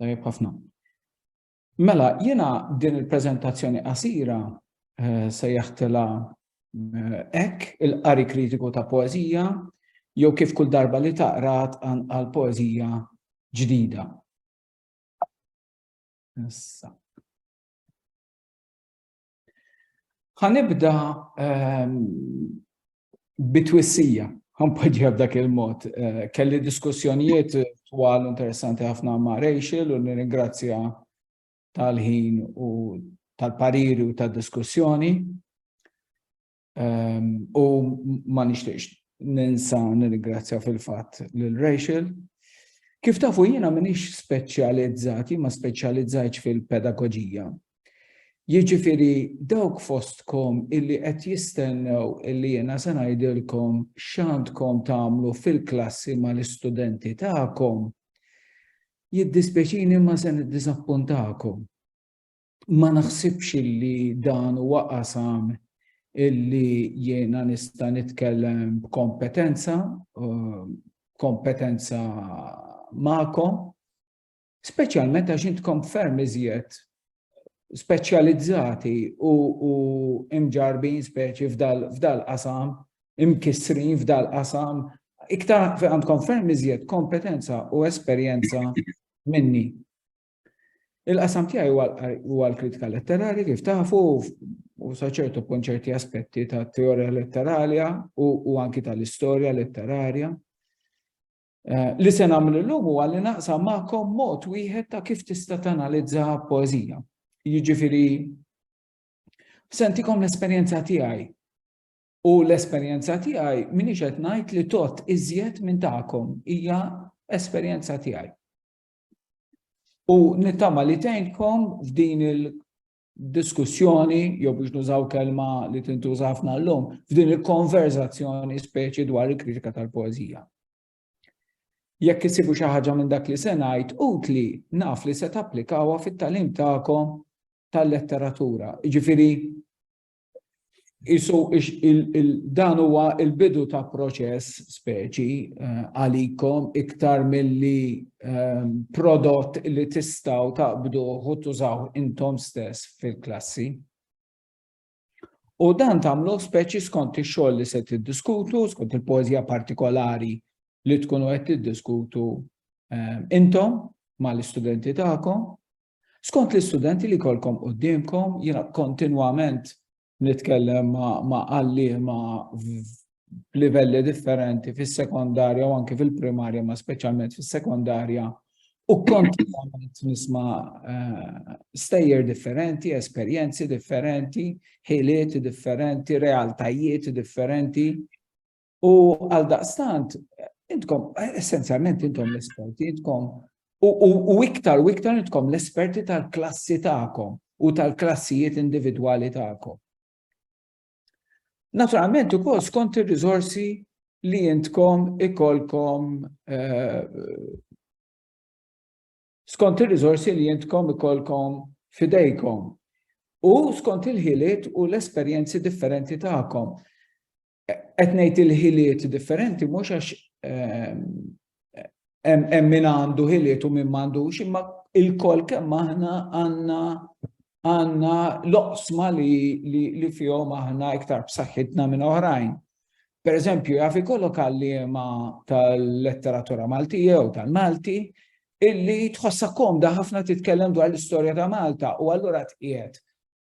Tajjeb ħafna. Mela, jiena din il-preżentazzjoni qasira eh, se jaħtela hekk eh, il-qari kritiku ta' poeżija jew kif kull darba li taqrat għal poeżija ġdida. Issa. Ħanibda ehm, bitwissija, ħanpoġġiha b'dak il-mod. Eh, kelli diskussjonijiet twal interessanti ħafna ma' Rachel u nirringrazzja tal-ħin u tal-pariri u tal-diskussjoni. U ma nixtieqx ninsa nirringrazzja fil-fatt lil Rachel. Kif tafu jiena minix speċjalizzati ma speċjalizzajtx fil-pedagoġija. Jiġifieri dawk fostkom illi qed jistennew illi jiena se ngħidilkom x'għandkom tagħmlu fil-klassi mal-istudenti tagħkom, jiddispjaċini imma se niddiżappuntakom. ma naħsibx illi dan huwa qasam illi jiena nista' nitkellem b'kompetenza, uh, kompetenza magħkom, speċjalment għax intkom ferm iżjed speċjalizzati u, u imġarbin speċi f'dal qasam, imkissrin f'dal qasam, iktar għandkom ferm iżjed kompetenza u esperjenza minni. Il-qasam tiegħi huwa l-kritika letterali kif tafu u saċertu punt ċerti aspetti ta' teorija letteralja u anki tal-istorja letterarja. Eh, li se nagħmel illum huwa li naqsam magħkom mod wieħed ta' kif tista' tanalizza poeżija. Jiġifieri sentikom l-esperjenza tiegħi u l-esperjenza tiegħi minix qed ngħid li tot iżjed minn tagħkom hija esperjenza tiegħi. U nittama li tgħinkom f'din il-diskussjoni, jew biex nużaw kelma li tintuża ħafna llum, f'din il-konverzazzjoni speċi dwar il-kritika tal-poezija. Jekk isibu xi ħaġa minn dak li se ngħid utli naf li se tapplikawha fit-talim tagħkom tal-letteratura. Jiġifieri Isu dan huwa il-bidu ta' proċess speċi eh, għalikom iktar milli eh, prodott li tistaw taqbdu u tużaw intom stess fil-klassi. U dan tamlu speċi skont ix-xogħol li se tiddiskutu, skont il-poeżija partikolari li tkunu qed tiddiskutu eh, intom mal-istudenti tagħkom Skont l-istudenti li jkollkom quddiemkom, jiena kontinwament nitkellem ma' għalliema b'livelli differenti fis-sekondarja u anke fil-primarja, ma' speċjalment fis-sekondarja, u kontinwament nisma' eh, stejjer differenti, esperjenzi differenti, ħiliet differenti, realtajiet differenti, U għal daqstant, intkom, essenzjalment intom l-esperti, intkom, u iktar u iktar intkom l-esperti tal-klassi ta'kom u tal-klassijiet individwali ta'kom. Naturalment, u kol skont il-rizorsi li intkom ikolkom eh, skont il-rizorsi li intkom ikolkom fidejkom u skont il-ħiliet u l-esperjenzi differenti ta'kom. qed ngħid il-ħiliet differenti mhux għax ehm, hemm min għandu ħiliet u min m'għandux, imma il-kol kemm aħna għandna għandna loqsma li, li, li fihom aħna iktar b'saħħitna minn oħrajn. Per eżempju, jaf ikollok għalliema tal-letteratura Maltija u tal-Malti illi tħossa komda ħafna titkellem dwar l-istorja ta' Malta u allura tqiegħed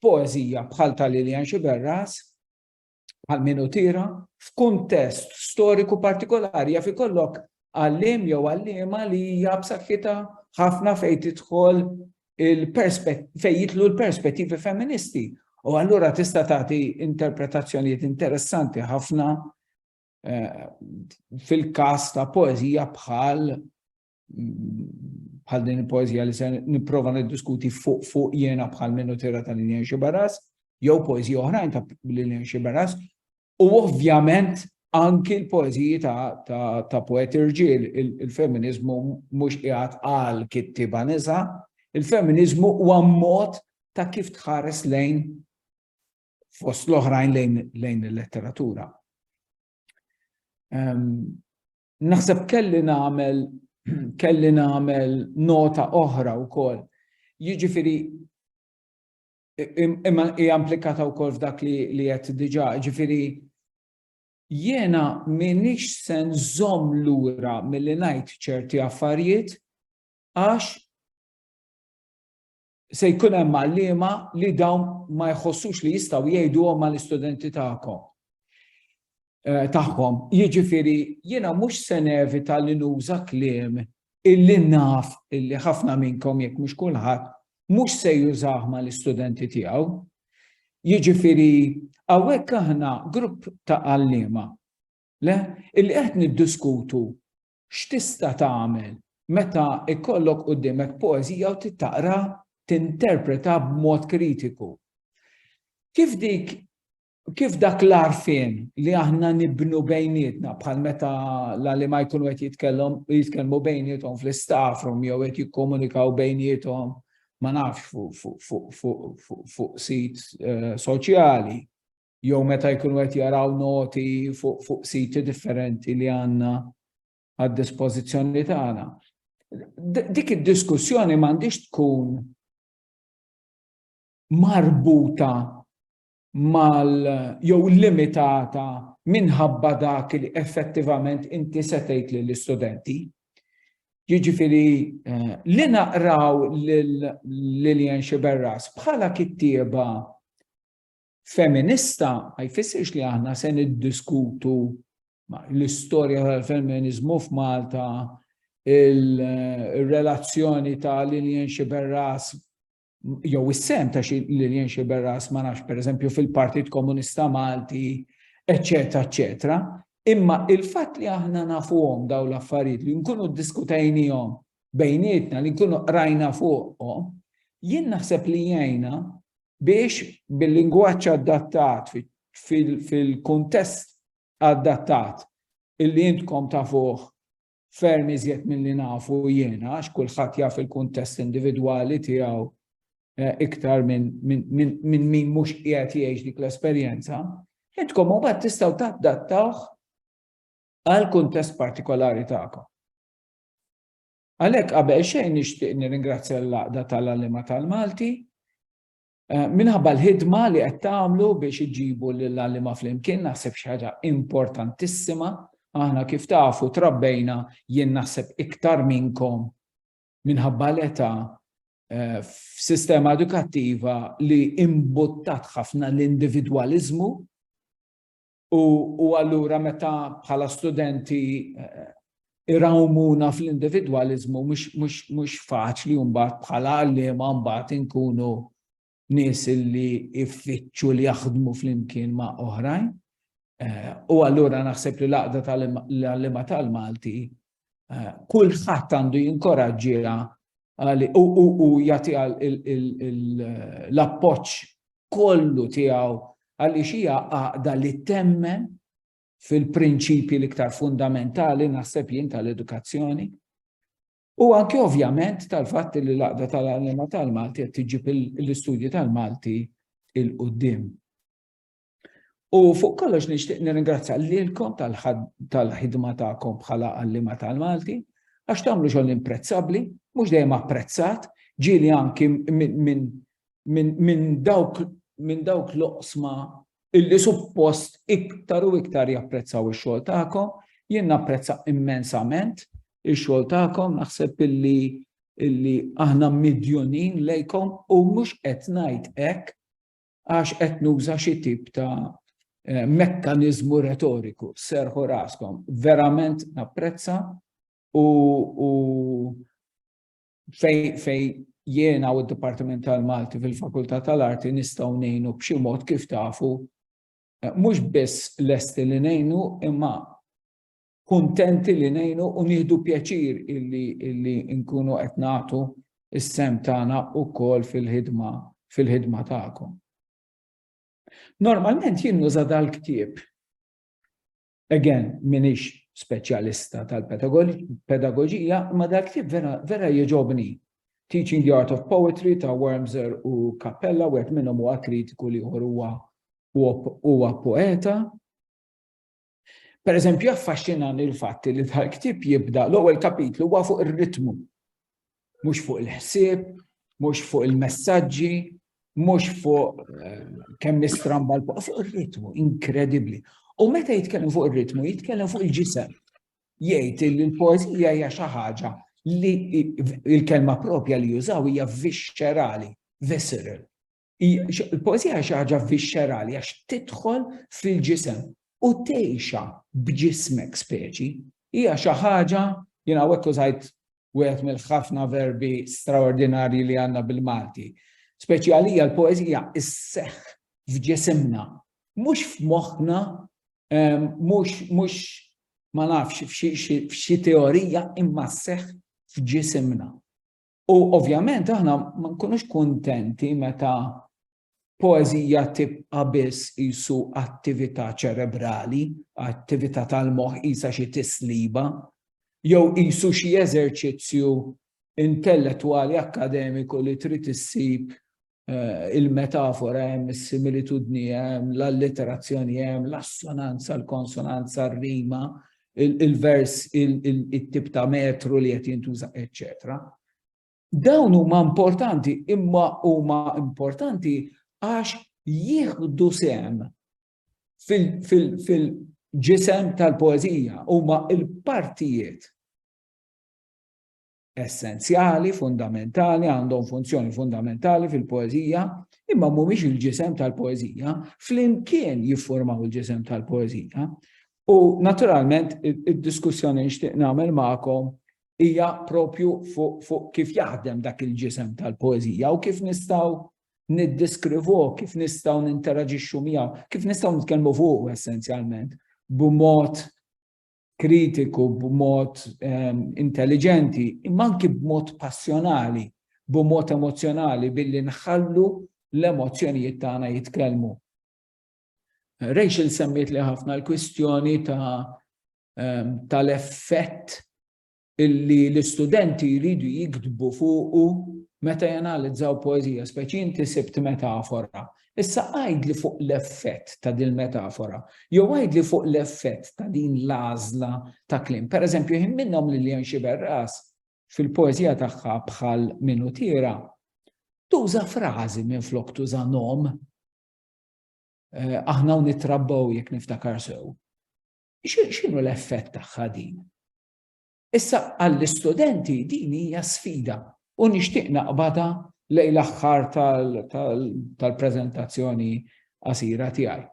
poezija bħal tal-Lilian Xiberras bħal min hu tira, f'kuntest storiku partikolari jaf ikollok għallim jew għallima li hija b'saħħitha ħafna fejn tidħol fejn jitlu l-perspettivi femministi. U allura tista' tagħti interpretazzjonijiet interessanti ħafna eh, fil-każ ta' poeżija bħal bħal din il-poezija li se nipprova niddiskuti fuq fuq jena bħal minnu tira ta' Lilian Xibaras, jew poezija oħrajn ta' Lilian Xibaras, u ovvjament anki l-poeziji ta' poeti rġiel, il-feminizmu mhux qiegħed għal kittiba nisa, il-feminizmu huwa mod ta' kif tħares lejn fost l-oħrajn lejn il-letteratura. Ehm, Naħseb kelli nagħmel kelli nagħmel nota oħra wkoll. Jiġifieri imma hija implikata wkoll f'dak li li qed diġà, jiġifieri jiena m'iniex se nżomm lura milli ngħid ċerti affarijiet għax Se jkun hemm għalliema li dawn ma jħossux li jistgħu jgħiduhom mal-istudenti tagħkom eh, tagħhom. Jiġifieri jiena mhux se nevita li nuża kliem illi naf illi ħafna minnkom jekk mhux kulħadd mhux se jużah mal-istudenti tiegħu. Jiġifieri hawnhekk aħna grupp ta' għalliema le illi qed niddiskutu X'tista' tagħmel meta jkollok quddiemek poeżija u trid taqra tinterpretha b'mod kritiku? Kif dik kif dak l-għarfien li aħna nibnu bejnietna bħal meta l-għalima jkunu qed jitkellhom jitkellmu bejniethom fl-istaff room jew qed jikkomunikaw bejniethom ma nafx fuq sit eh, soċjali. jew meta jkunu qed jaraw noti fuq siti differenti li għandna għad-dispożizzjoni tagħna. Dik id-diskussjoni m'għandix tkun marbuta mal jew limitata minħabba dak li effettivament inti setejt lill istudenti Jiġifieri eh, li naqraw lil Lillian Xiberras bħala kittieba Feminista ma jfissirx li aħna se niddiskutu l-istorja tal-femminizmu f'Malta, il-relazzjoni ta' Lilian Xiberras jew is-sem ta' Lilian Xiberras ma nafx pereżempju fil-Partit Komunista Malti, eċetera, eċetera. Imma il-fatt li aħna nafuhom daw l-affarijiet li nkunu ddiskutejnihom bejnietna li nkunu qrajna fuqhom, jien naħseb li jgħinna biex bil-lingwaġġ adattat fil-kuntest adattat illi intkom tafuh ferm iżjed milli nafu jiena għax kulħadd jaf il-kuntest individwali tiegħu eh, iktar minn min mhux qiegħed jgħix dik l-esperjenza, intkom mbagħad tistgħu tadattawh għal kuntest partikolari tagħkom. Għalhekk qabel xejn nixtieq nirringrazzja lill-Għaqda tal-Għalliema tal-Malti minħabba l-ħidma li qed tagħmlu biex iġġibu lill-għalliema flimkien, naħseb xi ħaġa importantissima. Aħna kif tafu trabbejna jien naħseb iktar minnkom minħabba l-età eh, f'sistema edukattiva li imbuttat ħafna l-individwaliżmu U, u allura meta bħala studenti eh, irawmuna fl-individualizmu mhux faċli mbagħad bħala għalliema mbagħad inkunu nies li iffittxu li jaħdmu flimkien ma' oħrajn. Eh, u allura naħseb li l-għaqda tal-għallima tal-Malti Eh, kulħadd għandu jinkoraġġiha u jagħti l-appoġġ kollu tiegħu għaliex hija għaqda li temmen fil-prinċipji l-iktar fundamentali naħseb jien tal-edukazzjoni. U anke ovvjament tal-fatt li l-għaqda tal-għalima tal-Malti qed tiġib l-istudji tal-Malti il-qudiem. U fuq kollox nixtieq nirringrazzja lilkom tal-ħidma tagħkom bħala għallima tal-Malti għax tagħmlu xogħol imprezzabbli, mhux dejjem apprezzat, ġieli anki minn dawk minn dawk l-oqsma illi suppost iktar u iktar japprezzaw ix-xogħol tagħkom, jien napprezza immensament ix-xogħol tagħkom, naħseb illi illi aħna midjunin lejkom u mhux qed ngħid hekk għax qed nuża xi tip ta' eh, mekkaniżmu retoriku, serħu raskom, verament napprezza u, u fej, fej jiena u d-Dipartiment tal-Malti fil-Fakultà tal-Arti nistgħu ngħinu b'xi mod kif tafu eh, mhux biss lesti li ngħinu imma kuntenti li ngħinu u nieħdu pjaċir illi, illi nkunu qed nagħtu is-sem tagħna wkoll fil-ħidma fil-ħidma tagħkom. Normalment jien nuża dal-ktieb. Again, minix speċjalista tal-pedagogija, ma dal-ktieb vera, vera jieġobni. Teaching the Art of Poetry ta' Wormser u Cappella, wieħed minnhom huwa kritiku li huwa huwa poeta, Pereżempju, jaffaxxinani l-fatt li l-ktieb jibda l-ewwel kapitlu huwa fuq ir-ritmu. Mhux fuq il-ħsieb, mhux fuq il-messaġġi, mhux fuq eh, kemm nistramba l fuq ir-ritmu, inkredibbli. U meta jitkellem fuq ir-ritmu, jitkellem fuq il-ġisem. Jgħid li l-poeżija hija xi ħaġa li il-kelma propja li jużaw hija viscerali, visceral. Il-poezija xi ħaġa vixxerali għax tidħol fil-ġisem u tgħixha b'ġismek speċi. Hija xi ħaġa jien hawnhekk użajt wieħed mill-ħafna verbi straordinarji li għandna bil-Malti. Speċi għalija l-poezija isseħħ f'ġisimna, mhux f'moħħna, ehm, mhux mhux ma nafx f'xi teorija imma sseħħ f'ġisimna. U ovvjament aħna ma nkunux kuntenti meta poezija tibqa biss jisu attività ċerebrali, attività tal-moħ jisa xi tisliba, jew jisu xi eżerċizzju intellettwali akademiku li trid issib eh, il-metafora hemm, is-similitudni hemm, l-alliterazzjoni hemm, l-assonanza, l-konsonanza, r-rima, il-vers, il-tip ta' metru li qed jintuża, eċċetera. Dawn huma importanti, imma huma importanti għax jieħdu sem fil-ġisem tal-poezija, huma il-partijiet essenzjali, fundamentali, għandhom funzjoni fundamentali fil-poezija, imma mhumiex il-ġisem tal-poezija, flimkien jiffurmaw il-ġisem tal-poezija. U naturalment id-diskussjoni nixtieq nagħmel magħkom hija propju fuq fu kif jaħdem dak il-ġisem tal-poezija u kif nistgħu niddiskrivu, kif nistgħu ninteraġixxu miegħu, kif nistgħu nitkellmu fuq essenzjalment b'mod kritiku b'mod ehm, intelligenti, imma anki b'mod passjonali, b'mod emozjonali billi nħallu l-emozzjonijiet tagħna jitkellmu. Rachel semmiet li ħafna l-kwistjoni ta' ehm, tal-effett illi l-istudenti jridu jiktbu fuqu meta janalizzaw poeżija, speċi inti sibt metafora. Issa għajd li fuq l-effett ta' din metafora, jew għajd li fuq l-effett ta' din l-għażla ta' klim. Per eżempju, jħin minnhom li Lilian Xiberras fil-poeżija tagħha bħal minutira, tuża frażi minn flok tuża nom Eh, aħna u nitrabbaw jekk niftakar sew. X'inhu l-effett tagħha din? Issa għall-istudenti din hija sfida u nixtieq naqbadha lejn l-aħħar tal-preżentazzjoni qasira tiegħi.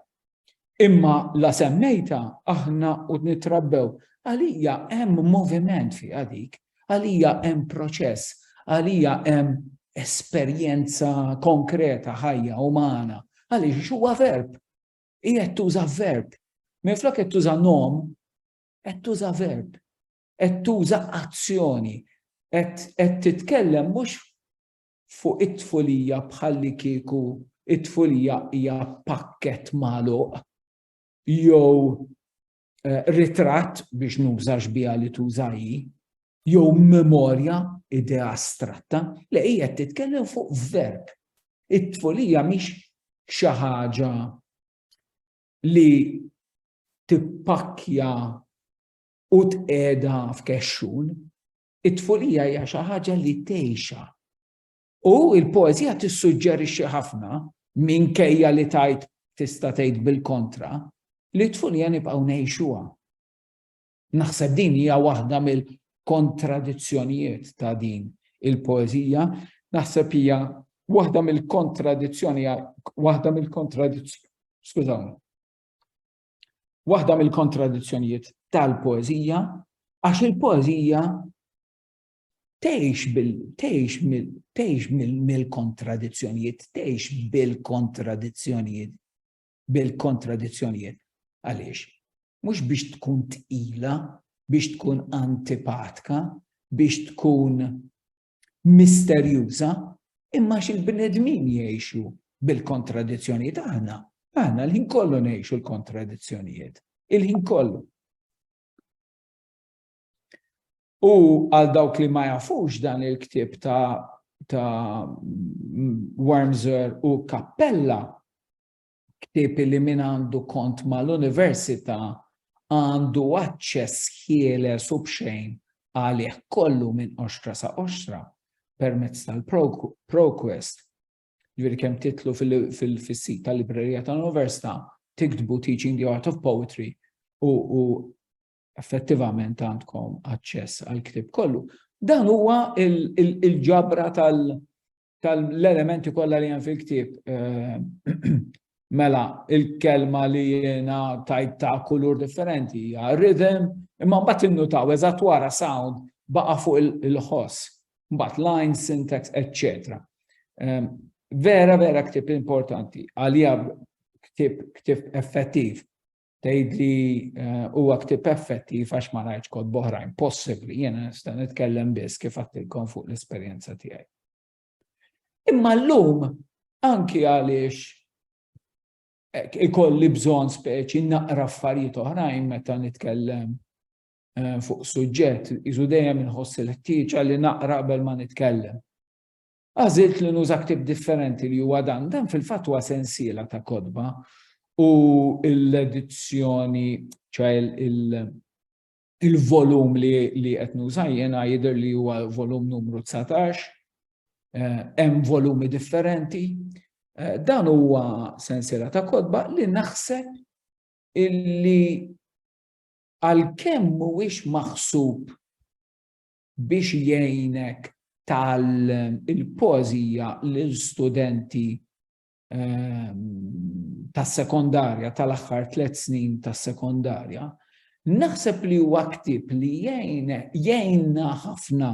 Imma la semmejtha aħna u nittrabbew, għalija hemm moviment fiha dik, għalija hemm proċess, għalija hemm esperjenza konkreta ħajja umana, għaliex huwa verb. Qiegħed tuża verb. Minflok qed tuża nom, qed tuża verb, qed tuża azzjoni, qed titkellem mhux fuq it-tfulija bħalli kieku it-tfulija hija pakket magħluq jew eh, ritratt biex nużax biha li tuża jew memorja idea astratta li hija titkellem fuq verb. It-tfulija mhix xi ħaġa li tippakkja u tqeda f'kexxun, it-tfulija hija xi ħaġa li tgħixha. U l-poeżija tissuġġerixxi ħafna minkejja li tajt tista' tgħid bil-kontra li t-tfulija nibqgħu ngħixuha. Naħseb din hija waħda mill-kontradizzjonijiet ta' din il-poeżija, naħseb hija waħda mill-kontradizzjoni, waħda mill-kontradizzjoni, skużawni, waħda mill-kontradizzjonijiet tal-poeżija, għax il-poeżija tgħix bil tgħix mill-kontradizzjonijiet, tgħix bil-kontradizzjonijiet. bil-kontradizzjonijiet. Għaliex? Mhux biex tkun tqila, biex tkun antipatka, biex tkun misterjuża, imma xil-bnedmin jgħixu bil-kontradizzjonijiet aħna. Aħna l-ħin kollu ngħixu l-kontradizzjonijiet. Il-ħin kollu. U għal dawk li ma jafux dan il-ktib ta' ta' Wormser u Kappella, ktib li min għandu kont mal-Università għandu aċċess ħieles u bxejn għalih kollu minn oxtra sa' oxtra permezz tal-ProQuest. Ġviri kem titlu fil-sit tal-librerija tal-Università, tiktbu Teaching the Art of Poetry u effettivament għandkom aċċess għal ktib kollu. Dan huwa il-ġabra tal-elementi kollha li hemm fil-ktib. Eh, mela, il-kelma li jiena tajt ta' kulur differenti hija rhythm, imma mbagħad innutaw eżatt wara sound baqa' fuq il-ħoss, mbagħad line, syntax, etc. Eh, vera, vera ktib importanti, għalija ktib effettiv tgħidli eh, huwa ktib effettiv għax ma rajtx kod boħrajn possibbli, jiena nista' nitkellem biss kif għattilkom fuq l-esperjenza tiegħi. Imma llum anki għaliex eh, ikolli bżonn speċi naqra affarijiet oħrajn meta nitkellem eh, fuq suġġett, iżu dejjem inħoss il-ħtieġa li naqra qabel ma nitkellem. Għażilt li nuża ktieb differenti li huwa dan. Dan fil-fatt huwa sensiela ta' kotba u l-edizzjoni, ċoħe il-volum li qed nuża jiena jidher li huwa volum numru 19, eh, hemm volumi differenti. Eh, dan huwa sensiela ta' kotba li naħseb illi għalkemm mhuwiex maħsub biex jgħinek tgħallem il-poeżija lil studenti ehm, tas-sekondarja tal-aħħar tliet snin tas-sekondarja, naħseb li huwa ktib li jgħinna ħafna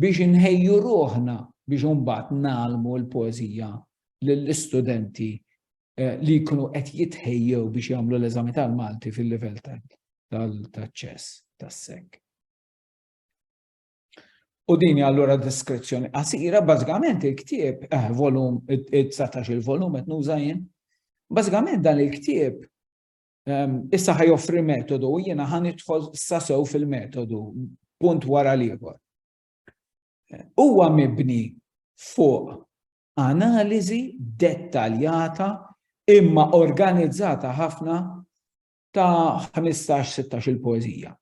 biex inħejju ruħna biex imbagħad nagħlmu l-poeżija lill-istudenti eh, li jkunu qed jitħejjew biex jagħmlu l-eżami tal-Malti fil-livell tal-ċess tas-sek. U dini allura diskrezzjoni qasira, bażikament il-ktieb, eh, volum, 19 il-volum qed nuża jien. Bażikament dan il-ktieb ehm, issa ħaj joffri metodu u jiena ħan idħol sasew fil-metodu punt wara l-ieħor. Eh, huwa mibni fuq analiżi dettaljata imma organizzata ħafna ta' ħmistax, sittax-il poeżija.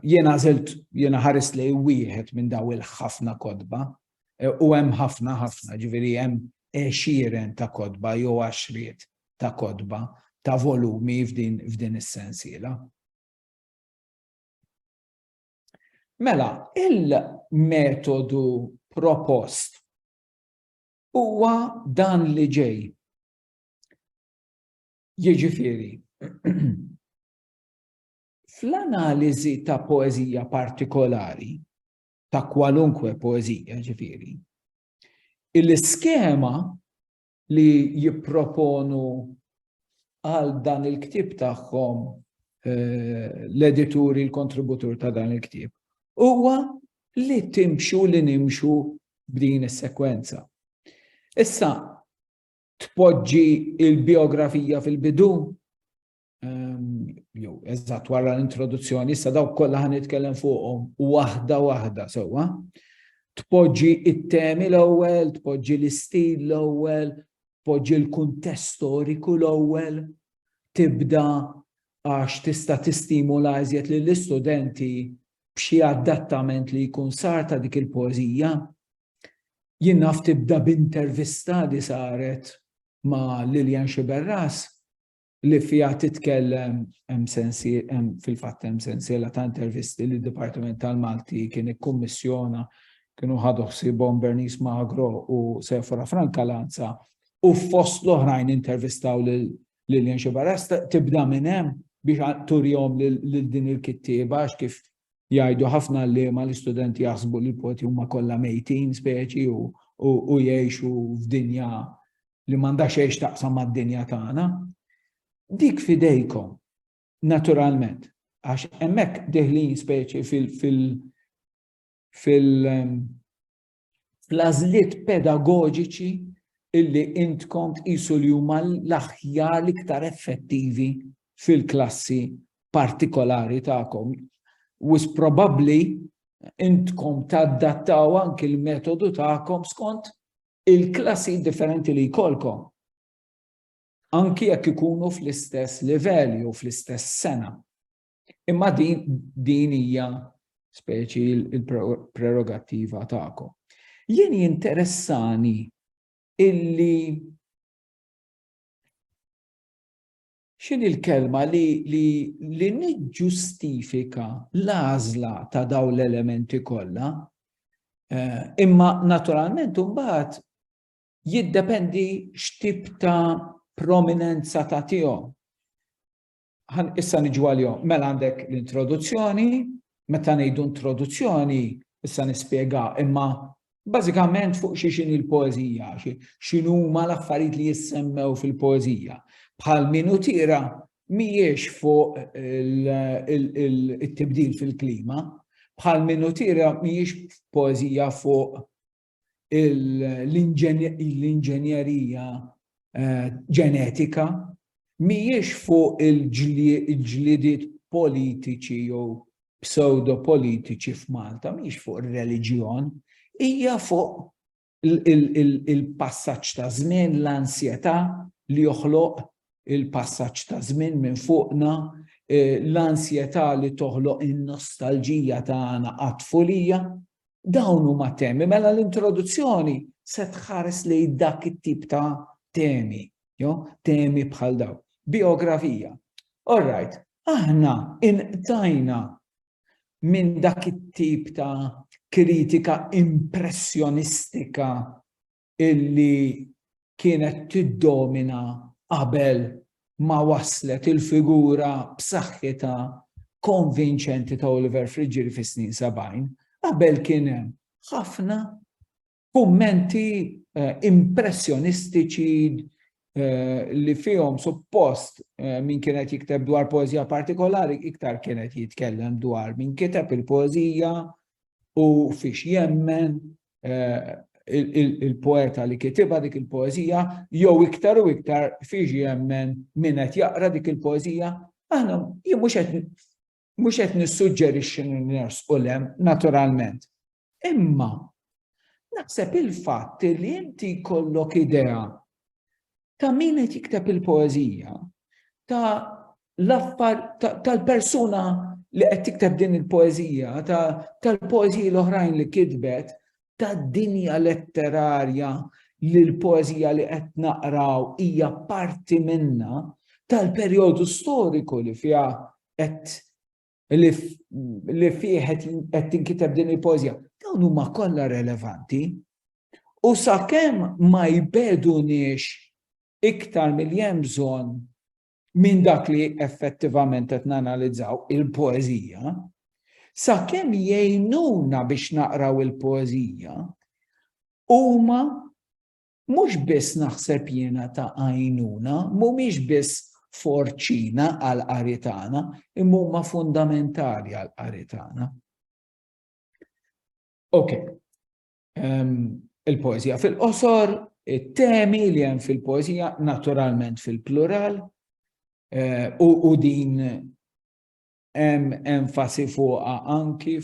Jiena għażilt, jiena ħarist lejn wieħed minn dawn il-ħafna kotba, u hemm ħafna, ħafna, ġifieri hemm għexieren ta' kotba jew għaxriet ta' kotba, ta' volumi f'din is-sensiela. Mela, il-metodu propost huwa dan li ġej. Jiġifieri, fl-analiżi ta' poeżija partikolari, ta' kwalunkwe poeżija ġifieri, il-iskema li jipproponu għal dan il-ktieb tagħhom eh, l-edituri, l-kontributur ta' dan il-ktieb, huwa li timxu li nimxu b'din is-sekwenza. Issa, tpoġġi il-biografija fil-bidu, ehm, jew eżatt wara l-introduzzjoni, issa dawk kollha ħan nitkellem fuqhom waħda waħda sewwa. Tpoġġi it-temi l-ewwel, tpoġġi l-istil l-ewwel, tpoġġi l-kuntest storiku l-ewwel, tibda għax tista' tistimula iżjed lill-istudenti b'xi adattament li jkun sar ta' dik il-poeżija Jien naf tibda b'intervista li saret ma' Lilian Sciberras li fiha titkellem hemm fil-fatt hemm sensiela ta' intervisti li d-Dipartiment tal-Malti kien ikkummissjona kienu ħadu ħsiebhom Bernice Magro u Sephora Franca Lanza u fost l-oħrajn intervistaw lil Lilian Sciberras tibda minn hemm biex turihom lil din il-kittieba għax kif jgħidu ħafna għalliema l-istudenti jaħsbu li l-poti huma kollha mejtin speċi u, u, u jgħixu f'dinja li m'għandha xejn taqsam mad-dinja tagħna. Dik fidejkom, naturalment, għax hemmhekk deħlin speċi fil-, fil-, fil, fil fl-għażliet pedagoġiċi illi intkom tqisu li huma l-aħjar l-iktar effettivi fil-klassi partikolari tagħkom. Wis probabbli intkom taddattaw anki l-metodu tagħkom skont il-klassi differenti li jkollkom. Anki jekk ikunu fl-istess livell jew fl-istess sena. Imma din din hija speċi il-prerogattiva tagħkom. Jien jinteressani illi xin il-kelma li, li, li niġġustifika l-għażla ta' daw l-elementi kollha, eh, imma naturalment mbagħad jiddependi x'tip ta' prominenza ta' tiegħu. Ħan issa niġu għalihom. Mela għandek l-introduzzjoni, meta ngħidu introduzzjoni, issa nispjega, imma bażikament fuq xi xini l-poeżija, x'inhuma l-affarijiet li jissemmew fil-poeżija. Bħal minu tira mhijiex fuq it-tibdil fil-klima, bħal minu tira mhijiex poeżija fuq l-inġenjerija eh, ġenetika mhijiex fuq il-ġlidiet politiċi jew pseudo-politiċi f'Malta, mhijiex fuq ir-reliġjon, hija fuq il-passaġġ ta' żmien, l-ansjetà li joħloq il-passaġġ ta' żmien minn fuqna Eh, l-ansjetà li toħloq in-nostalġija tagħna għat-tfulija, Dawn huma temi, mela l-introduzzjoni se tħares li dak it-tip ta' temi, jo, temi bħal daw. Biografija. All right, aħna inqtajna minn dak it-tip ta' kritika impressjonistika illi kienet tiddomina qabel ma waslet il-figura b'saħħitha konvinċenti ta' Oliver Friġġieri fis-snin 70, qabel kien hemm ħafna kummenti eh, impressjonistiċi eh, li fihom suppost eh, min kienet jikteb dwar poezija partikolari iktar kienet jitkellem dwar min kiteb il-poezija u fiex jemmen il-poeta li kitiba dik il-poezija, jew iktar u iktar fiex jemmen min qed jaqra dik il-poezija, aħna jien mhux qed mhux qed nissuġġerixxi ners u lem naturalment. Imma naħseb il-fatt li inti jkollok idea ta' min qed jikteb il-poeżija, ta' l-affar tal-persuna li qed tikteb din il-poeżija, tal-poeżiji l-oħrajn li kitbet, tad-dinja letterarja li l-poeżija li qed naqraw hija parti minna, tal-perjodu storiku li fiha qed li fih qed tinkiteb din il-pożja, dawn huma kollha relevanti. U sakemm ma jbeduniex iktar milli hemm bżonn minn dak li effettivament qed nanalizzaw il-poeżija, sakemm jgħinuna biex naqraw il-poeżija, huma Mhux biss naħseb jiena ta' għajnuna, mhumiex biss forċina għall-qari tagħna, imma huma fundamentali għall-qari tagħna. Ok, um, il-poezija fil-qosor, it-temi li hemm fil-poezija naturalment fil-plural eh, u, u din hemm enfasi fuqha anki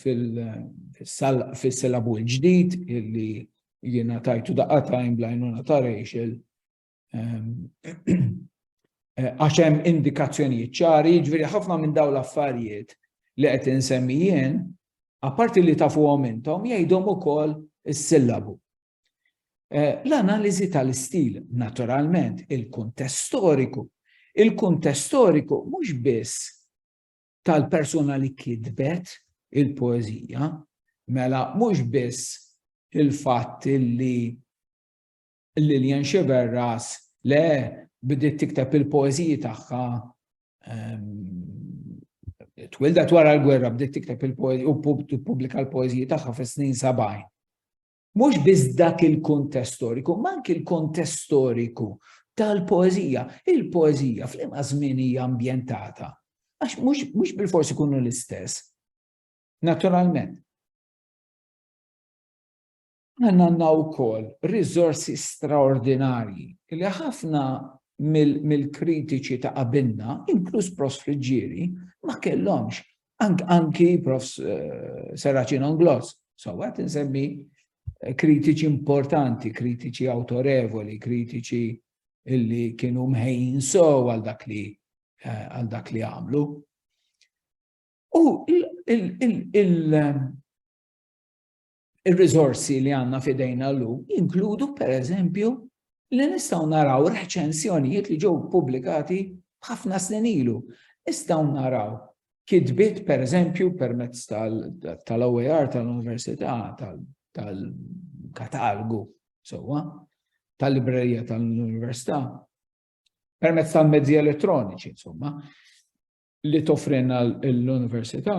fil-silabu l-ġdid illi jiena tajtu daqqa tajn blajnuna ta' Rachel għax hemm indikazzjonijiet ċari, jiġifieri ħafna minn dawn l-affarijiet li qed insemmijien, apparti li tafuhom intom, jgħidhom ukoll is-sillabu. Eh, l-analiżi tal-istil, naturalment, il-kuntest storiku. Il-kuntest storiku mhux biss tal-persuna li kitbet il-poezija, mela mhux biss il-fatt li Lilian Xiverras le bdiet tikteb il-poeziji tagħha ehm, twildet wara l-gwerra bdiet tikteb il-poezija u pubblika l-poeziji tagħha fis-snin 70. Mhux biss dak il-kuntest storiku, imma anki l-kontest storiku tal-poeżija. Il-poeżija f'liema żmien hija ambjentata? Għax mhux bil-forsi kunu l-istess. Naturalment. Għanna għanna u kol rizorsi straordinarji li ħafna mill-kritiċi ta' qabilna, inkluż Prost Friġġieri, ma kellhomx Anki prof Serraċin Onglos, so għat nsemmi eh, kritiċi importanti, kritiċi autorevoli, kritiċi illi kienu mħejn so għal dak li eh, għal dak li għamlu. U il- ir-riżorsi li għandna f'idejna llum jinkludu pereżempju li nistgħu naraw reċensjonijiet li ġew pubblikati ħafna snin ilu. Nistgħu naraw kitbiet pereżempju permezz tal-OER tal-Università tal-katalgu sewwa tal-librerija tal-Università permezz tal-mezzi elettroniċi insomma li toffrina l-Università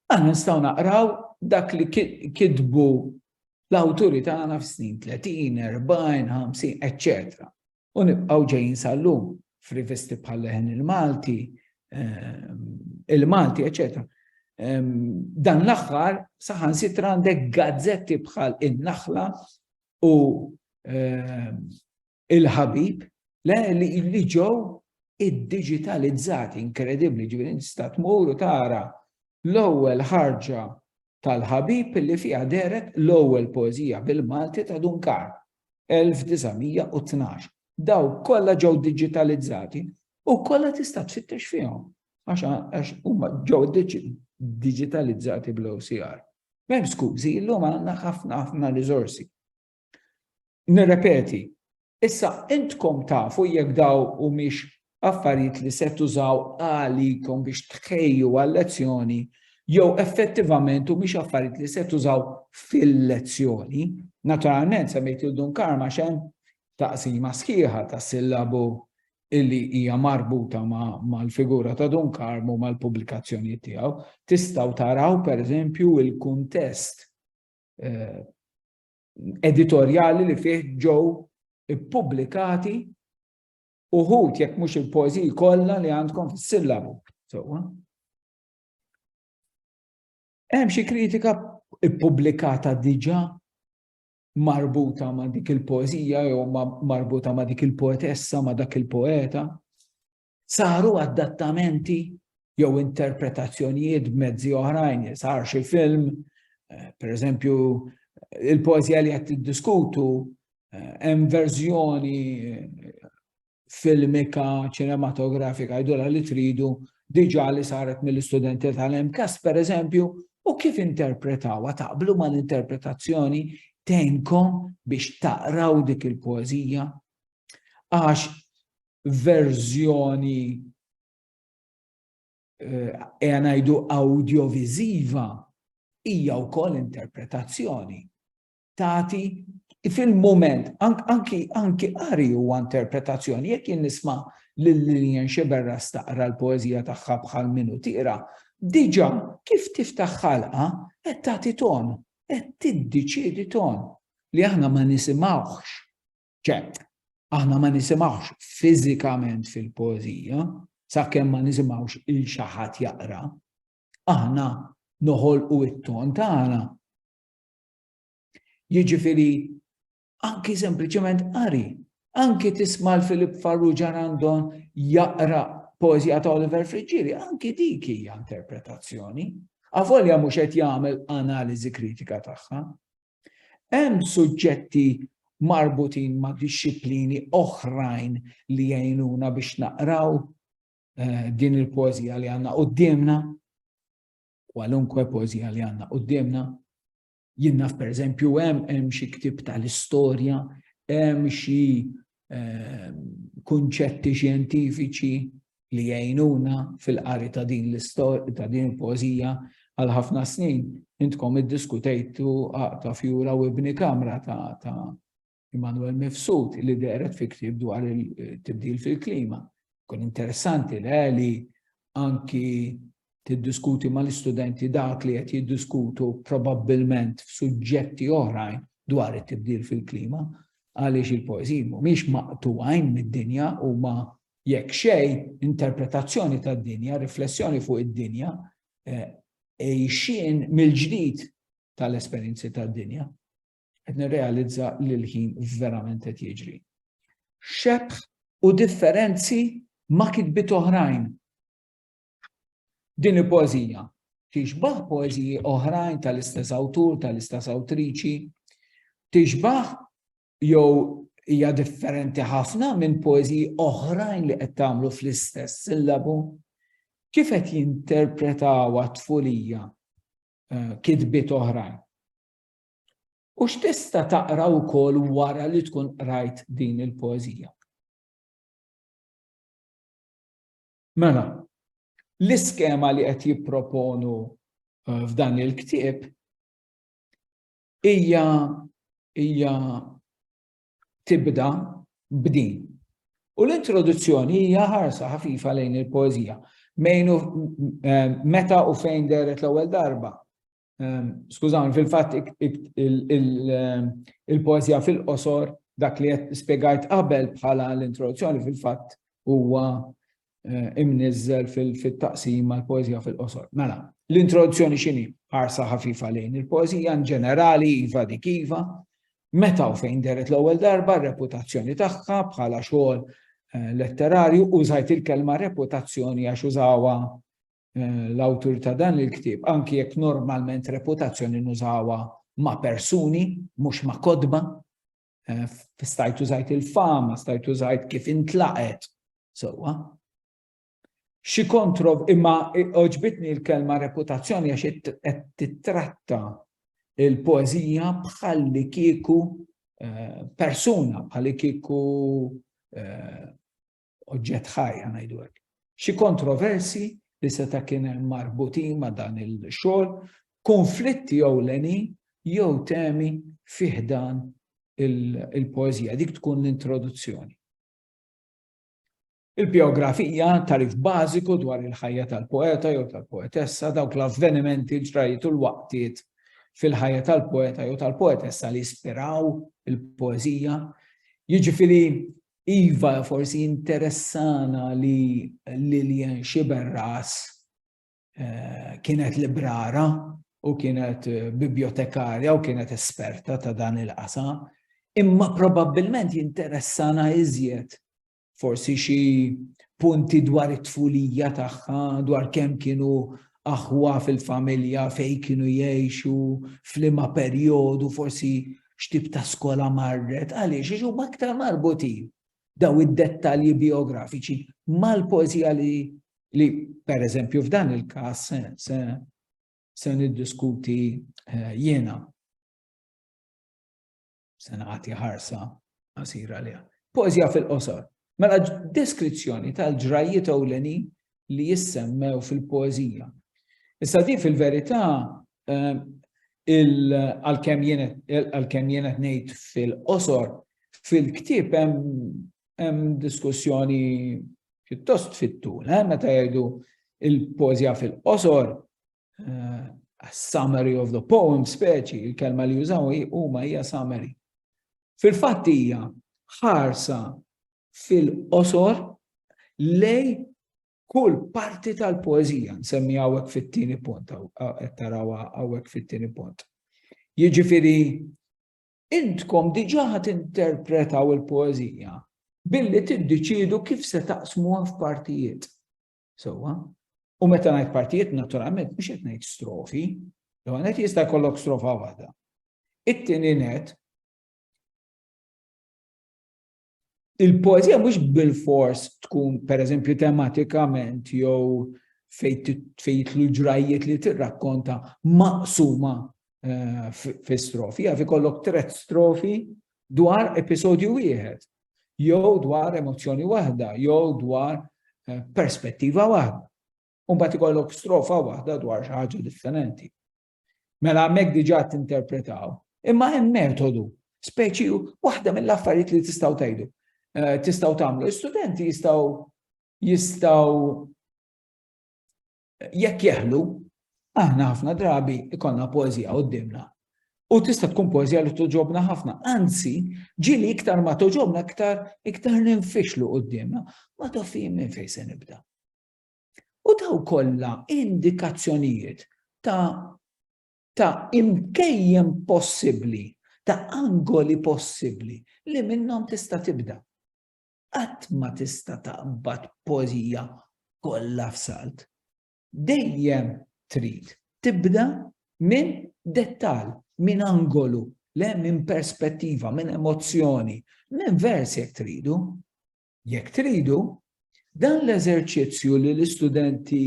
Aħna nistgħu naqraw dak li kitbu l-awturi tagħna f'snin 30, 40, 50, etc. U nibqgħu ġejjin sal-lum f'rivisti bħal leħen il-Malti, ehm, il-Malti, etc. Ehm, dan l-aħħar saħan sitra għandek gazzetti bħal in-naħla u ehm, il-ħabib, le li ġew iddiġitalizzati inkredibbli ġifieri tista' tmur u tara l-ewwel ħarġa tal-ħabib li fiha deret l-ewwel poeżija bil-Malti ta' Dunkar 1912. Daw kollha ġew diġitalizzati u kollha tista' tfittex fihom għax huma ġew diġitalizzati bl-OCR. Mem skużi, illum għandna ħafna ħafna riżorsi. Nirrepeti, issa intkom tafu jekk daw humiex affarijiet li se tużaw għalikom biex tħejju għal-lezzjoni jew effettivament u mhix affarijiet li se tużaw fil-lezzjoni. Naturalment semmejt il dun karma xem taqsima sħiħa ta' sillabu illi hija marbuta mal-figura ta' dun karmu mal-pubblikazzjoni tiegħu. Tistgħu taraw pereżempju il-kuntest eh, editorjali li fih ġew ippubblikati uħud jekk mhux il-poeżiji kollha li għandkom fis-sillabu. Sewwa. Hemm xi kritika ippubblikata diġà marbuta ma' dik il-poeżija jew marbuta ma' dik il-poetessa ma' dak il-poeta. Saru adattamenti jew interpretazzjonijiet b'mezzi oħrajn, sar xi film, eh, per eżempju, il-poezija li qed tiddiskutu eh, hemm verżjoni eh, filmika, ċinematografika, jdola li tridu diġa li saret mill-istudenti tal-MKAS, per eżempju, u kif interpretawa taqblu ma l-interpretazzjoni tenkom biex taqraw dik il-poezija. Għax verżjoni eja ngħidu awdjoviżiva hija wkoll interpretazzjoni. Tati fil-moment, anki anki qari huwa interpretazzjoni, jekk jien nisma' lil Lillian Xiberra staqra l-poeżija tagħha bħal minu tira, diġà kif tiftaħ ħalqa qed tagħti ton, qed tiddeċiedi ton li aħna ma nisimgħuhx Ċe, aħna ma nisimgħux fiżikament fil-poeżija, sakemm ma nisimgħux il xi ħadd jaqra, aħna noħolqu it-ton tagħna. Jiġifieri anki sempliċement qari, anki tisma' l-Filip Farrugia Randon jaqra poezija ta' Oliver Friġġieri, anki dik hija interpretazzjoni. Avolja mhux qed jagħmel analiżi kritika tagħha, Hemm suġġetti marbutin ma' dixxiplini oħrajn li jgħinuna biex naqraw eh, din il-poezija li għanna qoddimna, kwalunkwe poezija li għanna qoddimna. Jinnaf per eżempju hemm hemm xi ktib tal-istorja, hemm xi ehm, kunċetti xjentifiċi li jgħinuna fil-qari ta' din l-istorja ta' din il-pożija għal ħafna snin intkom iddiskutejtu ta' fjura u ibni kamra ta' ta' Immanuel Mifsud li deret fi ktib dwar il-tibdil fil-klima. Kun interessanti le li anki tiddiskuti mal-istudenti dak li qed jiddiskutu probabbilment f'suġġetti oħrajn dwar it-tibdil fil-klima għaliex il-poeżiji mhumiex maqtuwajn mid-dinja u ma jekk xej interpretazzjoni tad-dinja, riflessjoni fuq id-dinja, eh, ejxin mill-ġdid tal-esperjenzi tad-dinja. qed nirrealizza li l-ħin verament qed jiġri. Xebħ u differenzi ma' kitbiet oħrajn. Din il-poezija tixbaħ poeziji oħrajn tal-istess awtur, tal-istess awtriċi, tixbaħ jew hija differenti ħafna minn poeziji oħrajn li qed tagħmlu fl-istess sillabu. Kif qed jinterpretaw għat-tfulija eh, kitbiet oħrajn? U x'tista' taqra wkoll wara li tkun qrajt din il-poeżija? Mela, l-iskema li qed jipproponu eh, f'dan il-ktieb hija hija tibda b'din. U l-introduzzjoni hija ħarsa ħafifa lejn il-poeżija. Eh, meta u fejn deret l-ewwel darba Ehm, skużawni, fil-fatt ehm, il-poezija fil-qosor dak li qed spjegajt qabel bħala l-introduzzjoni fil-fatt huwa eh, imniżżel fit-taqsim mal poezija fil-qosor. Mela, l-introduzzjoni x'inhi ħarsa ħafifa lejn il-poezija in ġenerali iva dik iva, meta u fejn deret l-ewwel darba reputazzjoni tagħha bħala xogħol eh, letterarju użajt il-kelma reputazzjoni għax użawa eh, l-awtur ta' dan il-ktieb, anki jekk normalment reputazzjoni nużawa ma' persuni, mhux ma' kodba, eh, stajt użajt il-fama, stajt użajt kif intlaqet, sewwa. Xi kontrov imma oġbitni l-kelma reputazzjoni għax qed titratta il-poezija bħalli kieku eh, persuna, bħalli kieku eh, oġġett ħaj ngħidu hekk. Xi kontroversi li seta' kien hemm marbutin ma' dan il-xogħol, konflitti ewlenin jew temi fih dan il-poeżija, dik tkun l-introduzzjoni. Il-biografija tarif bażiku dwar il-ħajja tal-poeta jew tal-poetessa, dawk l-avvenimenti l-ġrajiet u l-waqtiet fil-ħajja tal-poeta jew tal-poetessa li jispiraw il-poeżija, jiġifieri Iva, forsi jinteressana li Lillian Sciberras kienet librara u kienet bibjotekarja u kienet esperta ta' dan il-qasam, imma probabbilment jinteressana iżjed forsi xi punti dwar it-tfulija tagħha, dwar kemm kienu aħwa fil-familja, fejn kienu jgħixu, f'liema perjodu, forsi x'tip ta' skola marret, għaliex? Għax huma aktar marbutin dawn id-dettalji bijografiċi mal-poeżija li li pereżempju f'dan il-każ se se se niddiskuti eh, jiena. Se nagħti ħarsa qasira liha. Poeżija fil-qosor. Mela deskrizzjoni tal-ġrajjiet ewlenin li jissemmew fil-poeżija. Issa din fil-verità għalkemm jien qed ngħid fil-qosor, fil-ktieb hemm diskussjoni pjuttost fit-tul, eh, meta jgħidu il-pożja fil-qosor, eh, summary of the poem speċi, il-kelma li jużaw huma hija summary. Fil-fatt hija ħarsa fil-qosor lej kull parti tal-poezija, nsemmi għawek fit-tini punt, tarawa għawek fit-tini punt. Jiġifiri, intkom diġa ħat interpretaw il-poezija billi tiddeċidu kif se taqsmu għaf partijiet. Sowa, u meta ngħid partijiet naturalment mhux qed ngħid strofi, jew għanet jista' jkollok strofa waħda. It-tieni net il-poezija mhux bil-fors tkun pereżempju tematikament jew fejt l ġrajjiet li tirrakkonta maqsuma eh, fi strofi, għafi kollok tret strofi dwar episodju wieħed, jew dwar emozzjoni waħda, jew dwar eh, perspettiva waħda. Umbat ikollok strofa waħda dwar xi ħaġa differenti. Mela hemmhekk diġà tinterpretaw. Imma hemm metodu, speċi waħda mill-affarijiet li tistgħu tgħidu. Eh, tistgħu tagħmlu. Istudenti jistgħu jistgħu jekk jeħlu, aħna ħafna drabi ikonna poezija qoddimna. U tista' tkun poezija li toġobna ħafna. Anzi, ġili iktar ma toġobna iktar iktar ninfixlu qoddimna. Ma tafim minn fejn se nibda. U daw kollha indikazzjonijiet ta' ta' imkejjem possibbli, ta' angoli possibbli li minnhom tista' tibda. Qatt ma tista' taqbad pożija kollha f'salt. Dejjem trid tibda minn dettal, minn angolu, le minn perspettiva, minn emozzjoni, minn vers jekk tridu. Jekk tridu, dan l-eżerċizzju li l-istudenti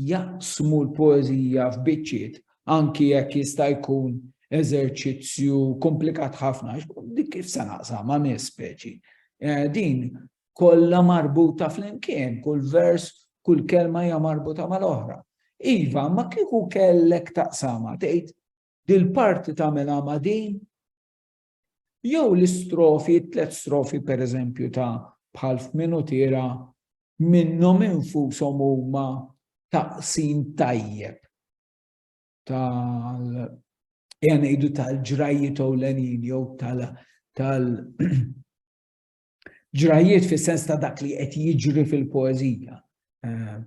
jaqsmu l-poeżija f'biċċiet anki jekk jista' jkun eżerċizzju komplikat ħafna, dik kif se naqsam ma' nies speċi. Eh, din kollha marbuta flimkien, kull vers, kull kelma hija marbuta mal-oħra. Iva, ma kieku kellek taqsama, tgħid dil-parti tagħmilha ma' din, Jew l-istrofi, it-tliet strofi pereżempju ta' bħal f'Minutiera minnhom infushom huma taqsim tajjeb tal ejja ngħidu tal-ġrajjiet ewlenin jew tal tal ġrajjiet fis-sens ta' dak li qed jiġri fil-poeżija. Eh,